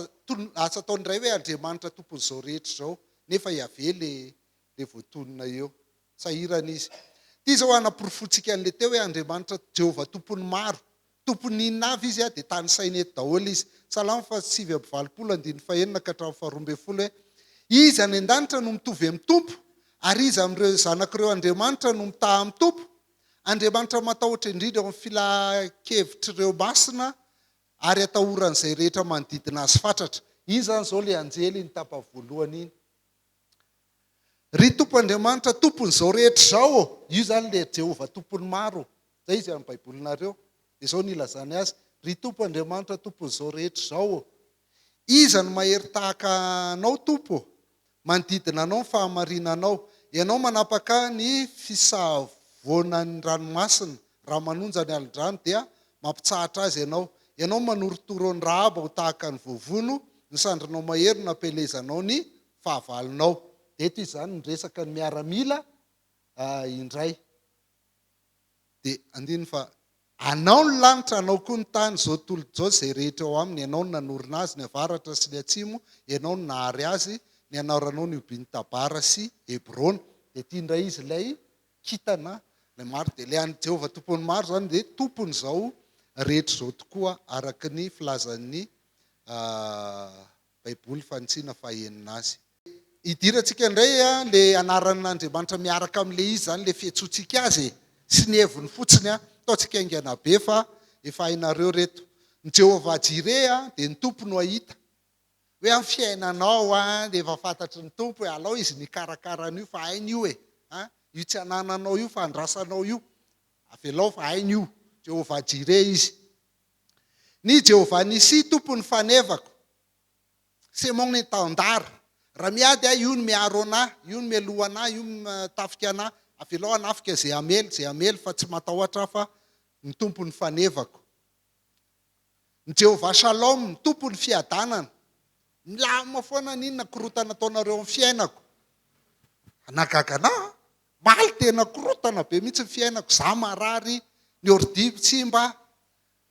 ataony indray hoe Andriamanitra tompon'izao rehetra izao nefa Yaveh ilay ilay voatonona eo. Sahirana izy. Ity izao hanaporofoantsika an'ilay teo hoe Andriamanitra Jehovah tompon'ny maro Tompon'inona avy izy dia tanisainy eto daholo izy. Salamo fahasivy amby valopolo andininy fahenina ka hatramin'ny faharoa ambin'ny folo hoe, Iza any an-danitra no mitovy amin'ny Tompo? Ary iza amin'ireo zanak'ireo andriamanitra no mitaha amin'ny Tompo? Andriamanitra matahotra indrindra eo amin'ny filahan-kevitr'ireo masina ary atahoran'izay rehetra manodidina azy fatratra. Iny izany izao ilay anjely iny tapa voalohany iny. Ry Tompo Andriamanitra, Tompon'izao rehetra izao ô! Io izany ilay Jehovah Tompon'ny maro. Izay izy amin'ny Baibolinareo. Dia izao no ilazany azy, Ry Tompo Andriamanitra, Tompon'izao rehetra izao ô! Iza no mahery tahaka Anao, Tompo ô? Manodidina Anao ny fahamarinanao. Ianao manapaka ny fisavoanan'ny ranomasina. Raha manonja ny alin-drano, dia mampitsahatra azy Ianao. Ianao manorotoro an'i Rahaba ho tahaka ny voavono, ny sandrinao mahery no nampielezanao ny fahavalonao. Eto izy izany miresaka ny miaramila indray. Dia andininy fa. Anao ny lanitra, anao koa ny tany, izao tontolo izao, izay rehetra ao aminy. Ianao no nanorina azy, ny avaratra sy ny atsimo, Ianao no nahary azy, ny anaranao nihobian'i Tabara sy Hebrona. Dia ity indray izy ilay kintana ilay maro. Dia ilay an'i Jehovah Tompon'ny maro izany dia Tompon'izao rehetra izao tokoa, araka ny filazan'ny Baiboly fanintsiana fahenina azy. Idirantsika indray ilay anaran'Andriamanitra miaraka amin'ilay izy izany, ilay fiantsoantsika azy e, sy ny heviny fotsiny. Ataontsika haingana be fa efa hainareo ireto. Ny Jehovah-Jireh dia ny Tompo no hahita hoe amin'ny fiainanao dia efa fantatry ny Tompo e, alao izy no hikarakara an'io fa hainy io e. Io tsy anananao io fa andrasanao io, avelao fa hainy io. Jehovah-Jireh izy. Ny Jehovah Nissi, Tompon'ny fanevako. C'est mon étendard. Raha miady aho, io no miaro anahy, io no mialoha anahy, io no mitafika anahy. Avelao hanafika izay hamely, izay hamely, fa tsy matahotra aho fa ny Tompo no fanevako. Ny Jehovah Shalom, Tompon'ny fiadanana. Milamina foana an'inona korontana ataonareo amin'ny fiainako. Hanagaga anà? Omaly dia nakorotana be mihitsy ny fiainako, za marary, ny ordiko tsimba,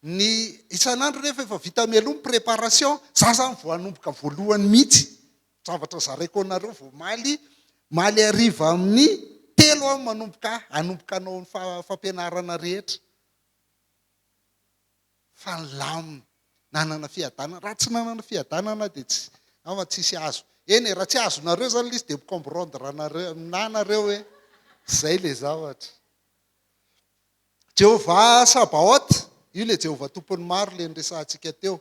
ny isan'andro nefa efa vita mialoha ny préparation, za zany vao hanomboka voalohany mihitsy, zavatra zaraiko anareo vao omaly, omaly hariva amin'ny telo aho manomboka hanomboka hanao ny fampianarana rehetra. fa ny laminy nanana fiadanana, raha tsy nanana fiadanana dia tsy, angamba tsisy azo, eny e, raha tsy azonareo zany le izy dia mi-comprendre-nare aminà nareo hoe zay le zavatra. Jehovah Sabaot, io le Jehovah Tompon'ny maro le niresahantsika teo.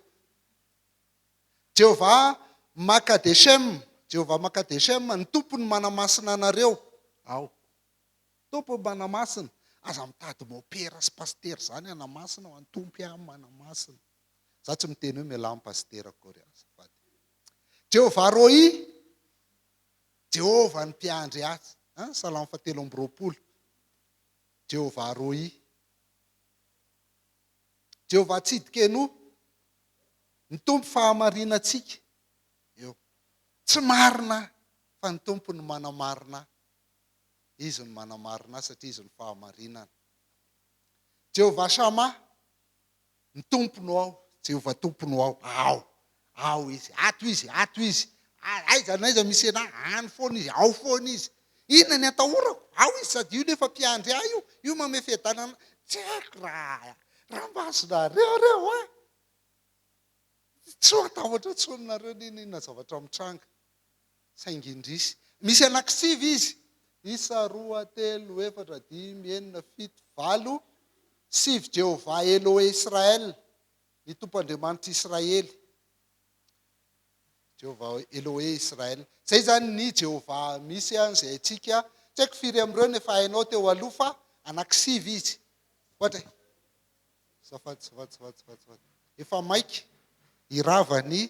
Jehovah Makadeshem, Jehovah Makadeshem, ny Tompon'ny manamasina anareo, ao. Tompo Manamasina, aza mitady mopera sy pasitera izany Anamasina ho an'i Tompo iah Manamasina. Za tsy miteny hoe mialà amin'ny pasitera akory aho azafady. Jehovah Roi, Jehovah ny mpiandry ahy, hein, Salamo fahatelo amby roapolo. Jehovah Roi. Jehovah Tsidkenu, ny Tompo fahamarinantsika. Eo. Tsy marina aho, fa ny Tompo no manamarina ahy. Izy no manamarina azy satria Izy no fahamarinana. Jehovah Shammah, ny Tompo no ao, Jehovah Tompo no ao, ao, ao Izy, ato Izy, ato Izy, aiza n'aiza misy anah, any foana Izy, ao foana Izy. Inona ny atahorako? Ao Izy, sady io nefa Mpiandry ahy io, io mamehy fiadanana anah. Tsy haiko raha raha masonareo ireo an! Tsy ho atahotra intsony nareo n'inon'inona zavatra mitranga. saingy indrisy. Misy anakisivy izy. Isa, roa, telo, efatra, dimy, enina, fito, valo, sivy, Jehovah Elohe-Israel, ny Tompo Andriamanitr'i Israely. Jehovah Elohe-Israel. Izay izany ny Jehovah misy an, izay haintsika. Tsy haiko firy amin'ireo no efa hainao teo aloha fa anakisivy izy. Ohatra, Azafady, azafady, azafady, azafady. Efa maika hirava ny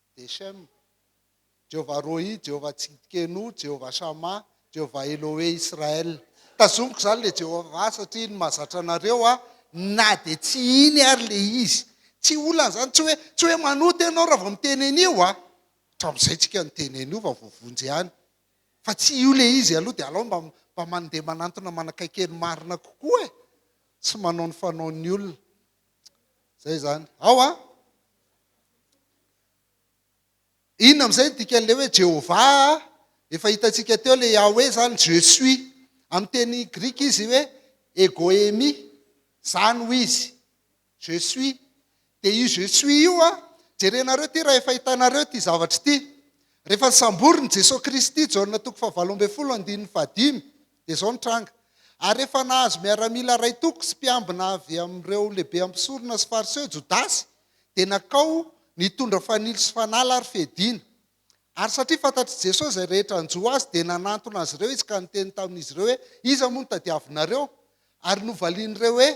Deshem, Jehovah Rohi, Jehovah Tsidkenu, Jehovah Shammah, Jehovah Elohe Israel. Tazomiko izany le Jehovah satria iny mahazatra anareo aho na dia tsy iny ary le izy. Tsy olana izany, tsy hoe, tsy hoe manota ianao raha vao miteny an'io a! Hatramin'izay tsika niteny an'io vao voavonjy ihany. Fa tsy io le izy aloha dia alao mba mba mandeha manantona manakaiky ny marina kokoa e! Tsy manao ny fanaon'ny olona. Zay zany. Ao a. Inona amin'izay ny dikan'ilay hoe Jehovah? Efa hitantsika teo ilay Yahweh zany je suis. Amin'ny teny grika izy hoe egoemi. Zany ho izy. Je suis. Dia io je suis io a, jerenareo ity raha efa hitanareo ity zavatra ity. Rehefa nisamborin'i Jesoa Kristy, Jaona toko fahavalo ambin'ny folo, andininy fahadimy, Dia izao ny tranga. Ary rehefa nahazo miaramila iray toko sy mpiambina avy amin'ireo lehibe mpisorona sy Fariseo Jodasy, dia nakao nitondra fanilo sy fanala ary fediana. Ary satria fantatr'i Jesoa izay rehetra hanjo Azy, dia nanantona azy ireo Izy ka niteny tamin'izy ireo hoe, Iza moa no tadiavinareo? Ary novalian'ireo hoe,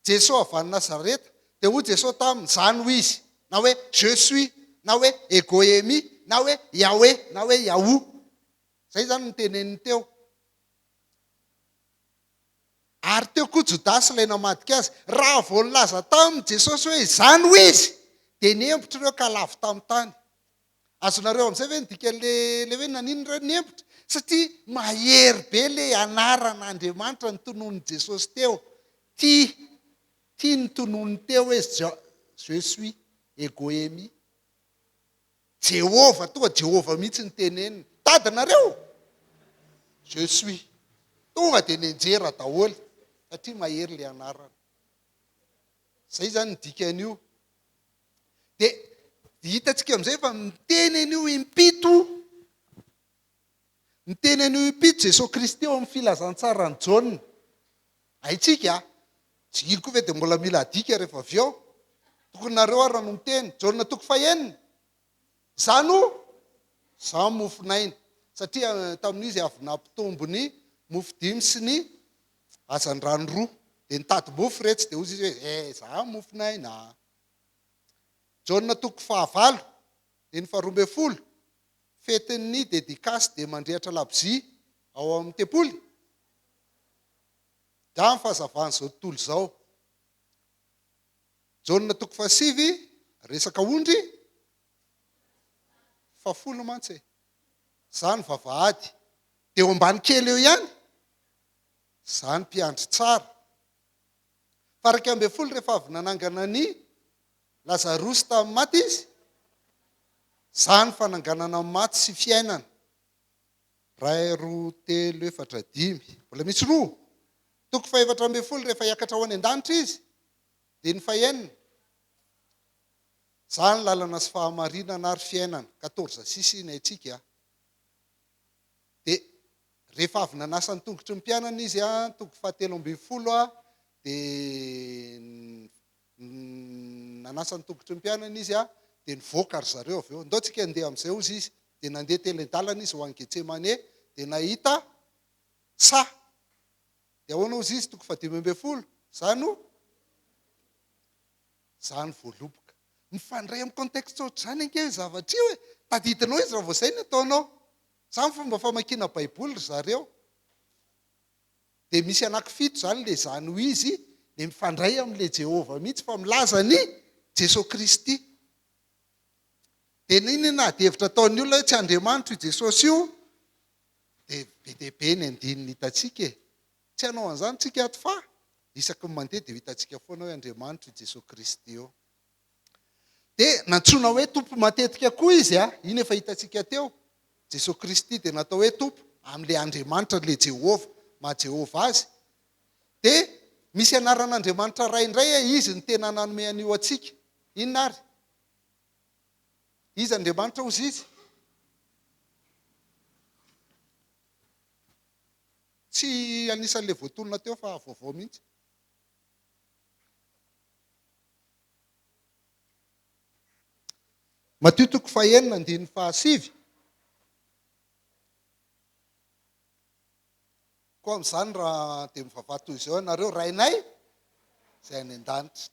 Jesoa avy any Nazareta. Dia hoy Jesoa taminy, Za no Izy, na hoe, Je suis, na hoe, Ego Eimi, na hoe, Yahweh, na hoe, Yahoo. Izay izany no noteneniny teo. Ary teo koa Jodasy ilay namadika azy. Raha vao nilaza taminy Jesosy hoe izany hoy izy, dia nihembotry ireo ka lavo tamin'ny tany. Azonareo amin'izay ve ny dikan'ilay hoe naninona ireo nihembotry? Satria mahery be ilay anaran'Andriamanitra notononin'i Jesosy teo. Tia, tia ny tononiny teo hoe Je suis, Ego Eimi. Jehovah toa Jehovah mihitsy ny teneniny. Tady nareo? Je suis. Tonga dia nenjera daholo satria mahery ilay anarana. Izay izany ny dikan'io. Dia hitantsika amin'izay fa miteny an'io impito Niteny an'io impito Jesosy Kristy eo amin'ny Filazantsaran'i Jaona. Haintsika a! Tsy gily koa ve dia mbola mila adika rehefa avy eo? Tokony nareo ary no miteny. Jaona toko fahenina. Izaho no, izaho mofon'aina. Satria tamin'io izy avy nampitombo ny mofo dimy sy ny hazandrano roa. Dia nitady mofo iretsy, dia hozy izy hoe, eh, izaho mofon'aina. Jaona toko fahavalo, andininy faharoa ambin'ny folo. fetin'ny dedikasy dia mandrehatra labozia ao amin'ny tempoly? Angaha amin'ny fahazavan'izao tontolo izao. Jaona toko fahasivy, resaka ondry? Fahafolo mantsy e. Izany vavahady. Dia eo ambany kely eo ihany? Izany mpiandry tsara. Faraika ambin'ny folo rehefa avy nanangana ny Lazarosy tamin'ny maty izy? Za ny fananganana maty sy fiainana. Ray roa telo efatra dimy. Mbola misy roa. Toko fahefatra ambin'ny folo rehefa hiakatra ho any an-danitra izy. Andininy fahenina. Za ny lalana sy fahamarinana ary fiainana. Quatorze six iny haintsika a. Dia rehefa avy nanasa ny tongotry ny mpianany izy a, toko fahatelo ambin'ny folo a, dia Nanasa ny tongotry ny mpianany Izy dia nivoaka ry zareo. Avy eo, Ndao tsika handeha amin'izay, hozy Izy. Dia nandeha telen-dalana Izy ho any Getsemane, dia nahita saha. Dia ahoana hozy Izy? Toko fahadimy ambin'ny folo, Za no, Za no voaloboka. Mifandray amin'ny contexte ohatr'izany ange io zavatra io e! Tadidinao Izy raha vao izay no ataonao. Izany fomba famakiana Baiboly ry zareo. Dia misy anaky fito izany ilay izany ho izy dia mifandray amin'ilay Jehovah mihitsy fa milaza an'i Jesoa Kristy. Dia nini na adihevitra ataon'ny olona hoe tsy Andriamanitra io Jesosy io dia be dia be ny andininy hitantsika e. Tsy hanao an'izany tsika ato fa isaky ny mandeha dia ho hitantsika foana hoe Andriamanitra io Jesoa Kristy io. Dia nantsoina hoe Tompo matetika koa izy. A Iny efa hitantsika teo. Jesoa Kristy dia natao hoe Tompo amin'ilay Andriamanitra, an'ilay Jehovah, maha Jehovah azy. Dia misy anaran'Andriamanitra Ray indray a Izy no tena nanome an'io antsika. Inona ary? Iza Andriamanitra hozy izy? Tsy anisan'ilay voatonona teo fa vaovao mihitsy. Matio toko fahenina andininy fahasivy. Koa amin'izany raha dia mivavaha toy izao ianareo, Rainay izay any an-danitra.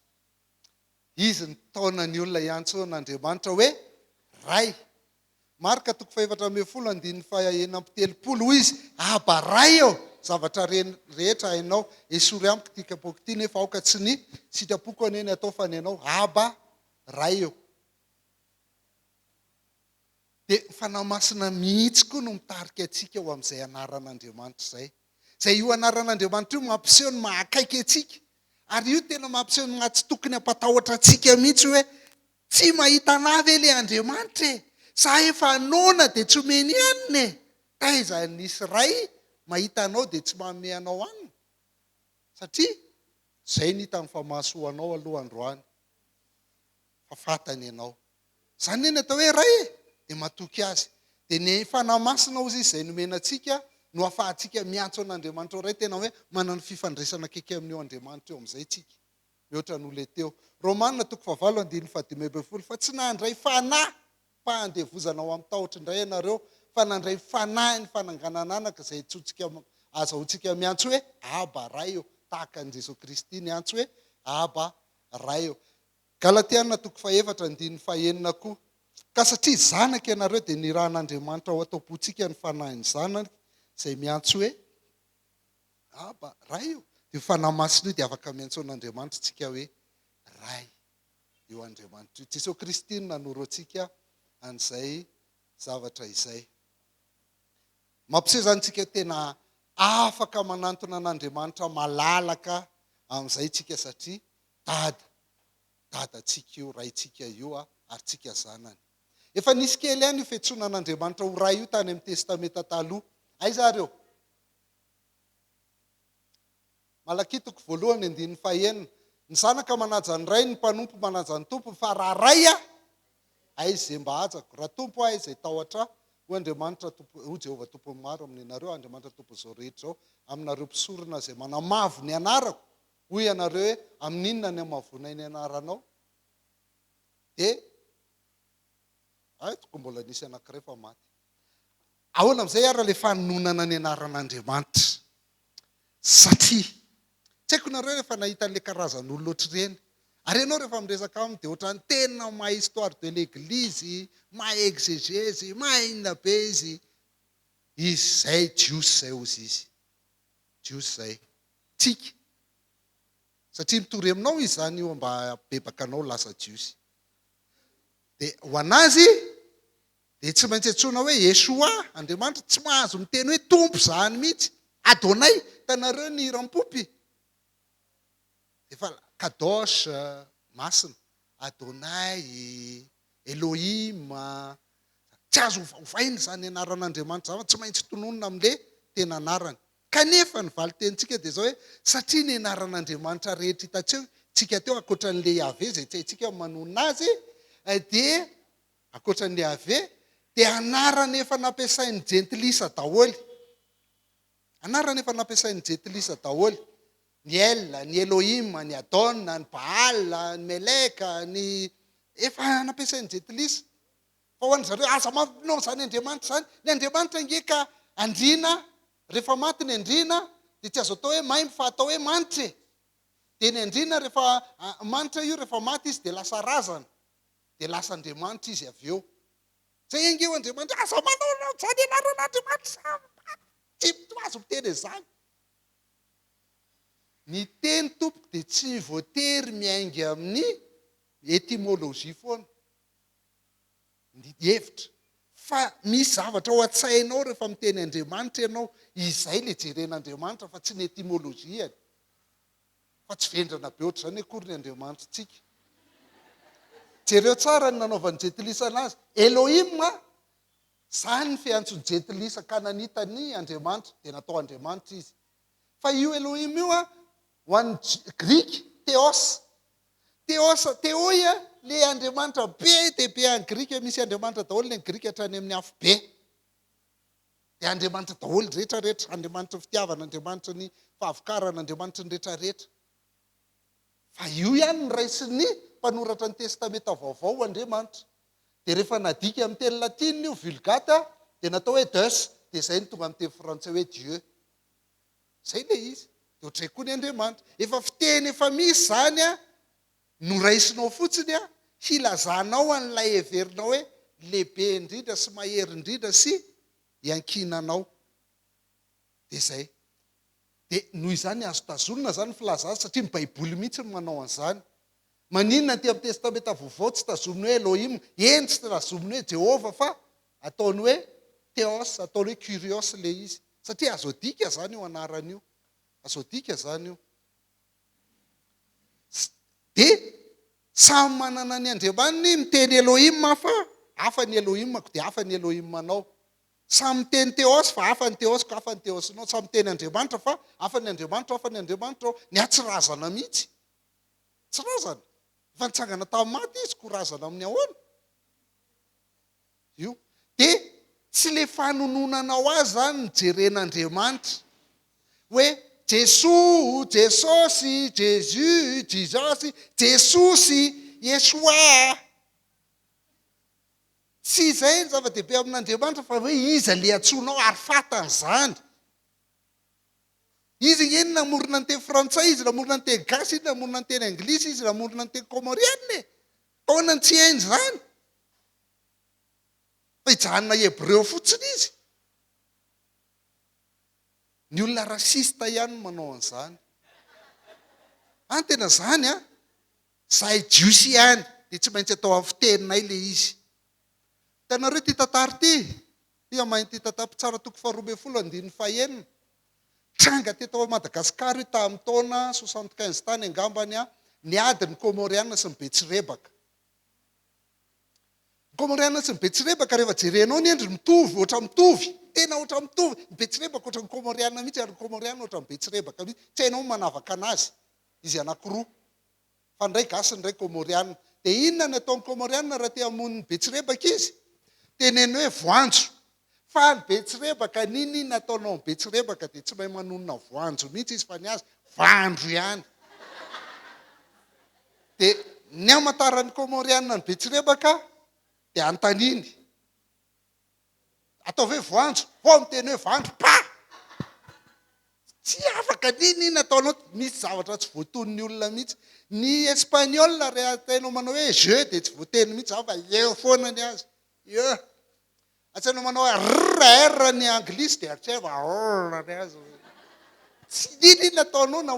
Izy nitaona ny olona hiantsoana Andriamanitra hoe Ray. Marka toko fahefatra ambin'ny folo andininy faha enina amby telopolo, hoy izy, Aba, Ray ô, zavatra rehetra hainao, esory amiko ity kapoaka ity, nefa aoka tsy ny sitrapoko anie ny atao fa ny anao, Aba, Ray ô. Dia ny Fanahy Masina mihitsy koa no mitarika antsika ho amin'izay anaran'Andriamanitra izay. Izay io anaran'Andriamanitra io mampiseho ny maha akaiky antsika. Ary io tena mampiseho ny maha tsy tokony hampatahotra antsika mihitsy hoe Tsy mahita anah ve le Andriamanitra e? Sa efa noana dia tsy omeny hanina e? Taiza nisy Ray mahita anao dia tsy manome anao hanina? Satria izay no hitany fa mahasoa anao aloha androany fa fantany ianao. Izany anie ny atao hoe Ray e! Dia matoky Azy. Dia ny Fanahy Masina hozy Izy izay nomena antsika no afahantsika miantso an'Andriamanitra ho Ray. Tena hoe manana fifandraisana akaiky amin'io Andriamanitra io amin'izay tsika. mihoatra noho ilay teo. Romana toko fahavalo andininy fahadimy ambin'ny folo Fa tsy nandray fanahy pahandevozana ao amin'ny tahotry indray ianareo, fa nandray fanahy ny fananganana anaka, izay antsointsika, azahoantsika miantso hoe, Aba, Ray ô, tahaka an'i Jesoa Kristy niantso hoe, Aba, Ray ô. Galatiana toko fahefatra andininy fahenina koa Ka satria zanaka ianareo, dia nirahan'Andriamanitra ao an-taopontsika ny fanahin'ny Zanany, izay miantso hoe, Aba, Ray io. Io Fanahy Masina io dia afaka miantsoana Andriamanitra isika hoe Ray. Io Andriamanitra io. Jesoa Kristy no nanoro antsika an'izay zavatra izay. Mampiseho izany isika tena afaka manantona an'Andriamanitra malalaka amin'izay isika satria Dada. Dadantsika io, Raintsika io ary tsika zanany. Efa nisy kely ihany io fiantsoana an'Andriamanitra ho Ray io tany amin'ny Testamenta Taloha. Aiza ary eo? Malakia toko voalohany andininy fahaenina, Ny zanaka manaja ny rainy, ny mpanompo manaja ny tompony, fa raha ray aho, aiza izay mba hajako? Raha tompo aho, aiza hitahotra ahy? Hoy Andriamanitra Tompo, hoy Jehovah Tompon'ny maro amin'ianareo, Andriamanitra Tompon'izao rehetra izao, aminareo mpisorona izay manamavo ny anarako, hoy ianareo hoe, Amin'inona ny hamavoanay ny anaranao? Dia, Aiko, mbola nisy anankiray fa maty. Ahoana amin'izay ary ilay fanononana ny anaran'Andriamanitra? Satria, tsy haiko nareo rehefa nahita an'ilay karazan'olona ohatr'ireny, ary ianao rehefa miresaka aminy dia ohatran'ny tena mahay histoire de l'église, mahay exégèse, mahay inona be izy. Izy izay, Jiosy izay hozy izy. Jiosy izay. Tsiky. Satria mitory aminao izy izany io mba habebaka anao lasa Jiosy. Dia ho an'azy, dia tsy maintsy antsoina hoe Yeshua, Andriamanitra, tsy mahazo miteny hoe Tompo zany mihitsy, Adonai, hitanareo ny hiram-pompy? Efa Kadosh, Masina, Adonai, Elohim, tsy azo ovaovaina izany anaran'Andriamanitra izany fa tsy maintsy tononina amin'le tena anarany. Kanefa ny valin-tenintsika dia izao hoe, satria ny anaran'Andriamanitra rehetra hitantsika teo ankoatran'le Yaveh izay tsy haintsika ny manonona azy, dia Ankoatra an'i Yaveh dia anarana efa nampiasain'ny jentilisa daholo. Anarana efa nampiasain'ny jentilisa daholo. Ny El, ny Elohim, ny Adon, ny Baal, ny Melek, ny efa nampiasain'ny jentilisa. Fa ho an'ny zareo, aza mampinao izany Andriamanitra izany. Ny Andriamanitra ange ka andriana, rehefa maty ny andriana dia tsy azo atao hoe maimbo fa atao hoe manitra e. Dia ny andriana rehefa manitra io rehefa maty izy dia lasa razana. dia lasa Andriamanitra izy avy eo. Izay ange eo Andriamanitra, aza manao anao izany ianareo na Andriamanitra samy maty, tsy mitoha azy miteny an'izany. Ny teny tompoko dia tsy voatery miainga amin'ny etymologie foana, ny hevitra, fa misy zavatra ao an-tsainao rehefa miteny Andriamanitra ianao, izay ilay jeren'Andriamanitra fa tsy ny etymologie-ny. fa tsy vendrana be ohatr'izany akory ny Andriamanitritsika. Jereo tsara ny nanaovan'ny Jentilisa anazy. Elohim a! Izany ny fiantson'ny Jentilisa Kananita ny Andriamanitra, dia natao Andriamanitra izy. Fa io Elohim io a, ho an'ny J, Grika, Theos. Theos, Theoi a, ilay Andriamanitra be dia be any Grika, misy Andriamanitra daholo ny Grika hatrany amin'ny afobe. dia Andriamanitra daholo rehetra rehetra, Andriamanitry ny fitiavana, Andriamanitry ny fahavokarana, Andriamanitry ny rehetra rehetra. Fa io ihany ny raisin'ny mpanoratra ny Testamenta Vaovao Andriamanitra. Dia rehefa nadika amin'ny teny latina io Vulgate dia natao hoe Deus dia izay no tonga amin'ny teny frantsay hoe Dieu. Izay ilay izy. Dia ohatran'izay koa ny Andriamanitra. Efa fiteny efa misy izany an! Noraisinao fotsiny an, hilazanao an'ilay heverinao hoe lehibe indrindra sy mahery indrindra sy iankinanao. Dia izay. Dia noho izany azo tazonina izany ny filazana azy satria ny Baiboly mihitsy no manao an'izany. Maninona aty amin'ny Testamenta Vaovao tsy tazominy hoe Elohim, eny tsy tazominy hoe Jehovah fa ataony hoe Theos, ataony hoe Kyrios ilay izy. Satria azo adika izany io anarana io. Azo adika izany io. Dia samy manana ny andriamaniny, miteny Elohim aho fa hafa ny Elohimako dia hafa ny Elohimanao. Samy miteny Theos fa hafa ny Theosiko, hafa ny Theosinao. Samy miteny Andriamanitra fa hafa ny Andriamanitro, hafa ny Andriamanitrao. Ny ahy tsy razana mihitsy. Tsy razana. Efa nitsangana tamin'ny maty Izy, koa razana amin'ny ahoana? Io. Dia tsy ilay fanononanao azy izany no jeren'Andriamanitra. Hoe Jesoa, Jesosy, Jésus, Jesus, Jesosy, Yeshua. Tsy izay no zava-dehibe amin'Andriamanitra fa hoe iza ilay antsoinao ary fantany izany. Izy ange no namorona ny teny frantsay, izy namorona ny teny gasy, izy namorona ny teny anglisy, izy namorona ny teny kômôrianina e. Ahoana no tsy hainy izany? Fa hijanona hebreo fotsiny izy. Ny olona raciste ihany no manao an'izany. An, tena izany an! Izahay jiosy ihany dia tsy maintsy atao amin'ny fiteninay ilay izy. Hitanareo ity tantara ity? Tia mahay an'ity tantara, Mpitsara toko faharoa ambin'ny folo andininy fahenina. Tranga teto Madagasikara io tamin'ny taona soixante quinze tany angambany an, niady ny Kômôriana sy ny Betsirebaka. Koa Komoriana sy ny Betsirebaka rehefa jerenao ny endriny mitovy, ohatra mitovy, tena ohatra mitovy, ny Betsirebaka ohatra ny Komoriana mihitsy ary ny Komoriana ohatra ny Betsirebaka mihitsy, tsy hainao ny manavaka anazy, izy anakiroa, fa ny iray gasy ny iray Komoriana, dia inona ny ataon'ny Komoriana raha te hamono ny Betsirebaka izy? Teneno hoe voanjo, Faly Betsirebaka, N'inon'inona ataonao an'i Betsirebaka dia tsy mahay manonona voanjo mihitsy izy fa ny azy voandro ihany. Dia ny hamantaran'ny Kômôrianina an'i Betsirebaka dia antaniny. Ataovy hoe voanjo, vao miteny hoe vandro, pah! Tsy afaka, n'inon'inona ataonao, misy zavatra tsy voatonon'ny olona mihitsy. Ny Espaniola, rehahainao manao hoe je dia tsy voateny mihitsy izany fa eo foana ny azy. Ie. Tsy anao manao hoe rr rr ny anglisy dia eritrereto fa rr rr rr rr. Tsy inona inona ataonao na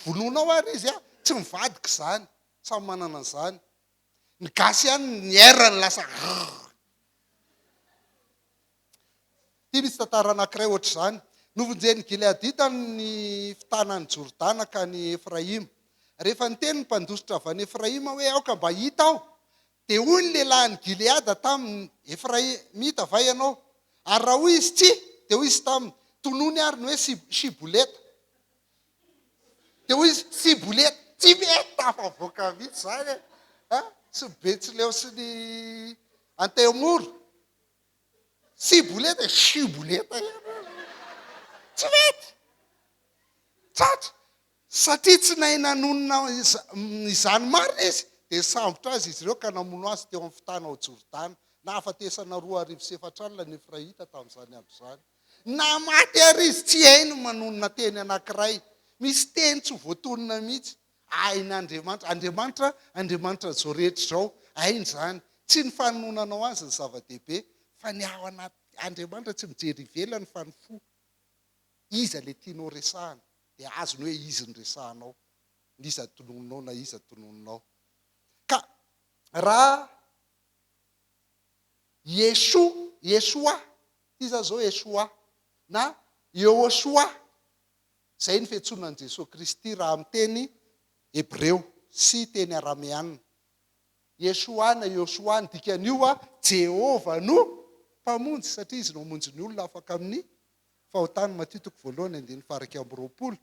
vonoinao ary izy an. Tsy mivadika izany. Samy manana an'izany. Ny gasy ihany ny rr-ny lasa rr. Ity misy tantara anankiray ohatr'izany. Novonjen'ny Gileadita ny fitanan'i Jordana ka an'i Efraima. Rehefa niteny ny mpandositra avy any Efraima hoe aoka mba hita aho Dia hoy ny lehilahin'i Gileada taminy, Efraimita va ianao? Ary raha hoy izy, Tsia, dia hoy izy taminy, Tonony àry ny hoe Siboleta. Dia hoy izy, Siboleta, tsy mety tafavoaka mihitsy izany e! Tsy ny Betsileo sy ny Antemoro. Siboleta, Siboleta ianao. Tsy mety! Tratra! Satria tsy nahay nanonona izany marina izy, dia nisambotra azy izy ireo ka namono azy teo amin'ny fitana ao Jordana. Nahafatesana roa arivo sy efatra alina ny Efraita tamin'izany andro izany. Naha maty àry izy, tsy hainy ny manonona teny anankiray. Misy teny tsy voatonona mihitsy. Hain'Andriamanitra. Andriamanitra, Andriamanitra an'izao rehetra izao. Hainy izany. Tsy ny fanononanao azy no zava-dehibe, fa ny ao anaty. Andriamanitra tsy mijery ivelany fa ny fo. iza le tianao resahana de azony hoe izy ny resahanao na iza tonononao na iza tonononao ka raha Yeshua, Yeshua, ty zany zao Yeshua na Yehoshua zay ny fiantsoana an'i Jesoa Kristy raha amin'ny teny hebreo sy teny arameana. Yeshua na Yehoshua ny dikan'io a, Jehovah no mpamonjy satria izy no hamonjy ny olona afaka amin'ny Fahotany, Matio toko voalohany andininy faha iraika amby roapolo.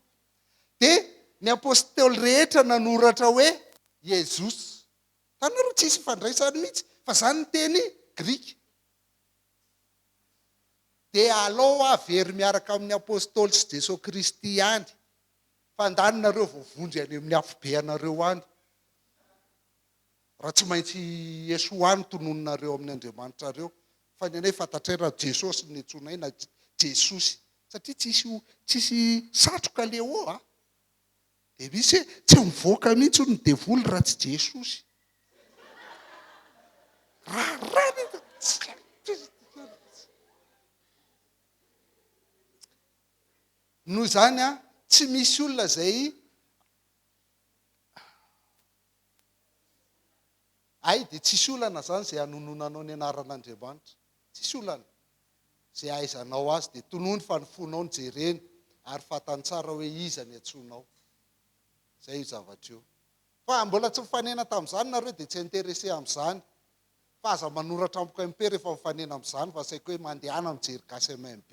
Dia ny apostoly rehetra nanoratra hoe Iesus. Tanareo tsy hisy ifandraisany mihitsy fa izany ny teny grika. Dia alao aho very miaraka amin'ny apostoly sy Jeso Kristy ihany. Fandany nareo voavonjy any amin'ny afobe anareo any. Raha tsy maintsy Yeshua no tononinareo amin'ny Andriamanitrareo, fa ny anay fantatray raha Jesosy no niantsoanay na Jesosy. Satria tsisy tsisy satroka Leo a! Dia misy hoe tsy mivoaka mihitsy hono ny devoly raha tsy Jesosy. Raharaha ny Noho izany a, tsy misy olona izay. Hay dia tsisy olana izany izay hanononanao ny anaran'Andriamanitra. Tsisy olana. Izay ahaizanao Azy dia tonony fa ny fonao no jereny ary fantany tsara hoe iza ny antsoinao. Izay io zavatra io. Fa mbola tsy mifanena tamin'izany nareo dia tsy intéressé amin'izany. Fa aza manoratra amiko MP rehefa mifanena amin'izany fa saika hoe mandehana mijery gasy MMB.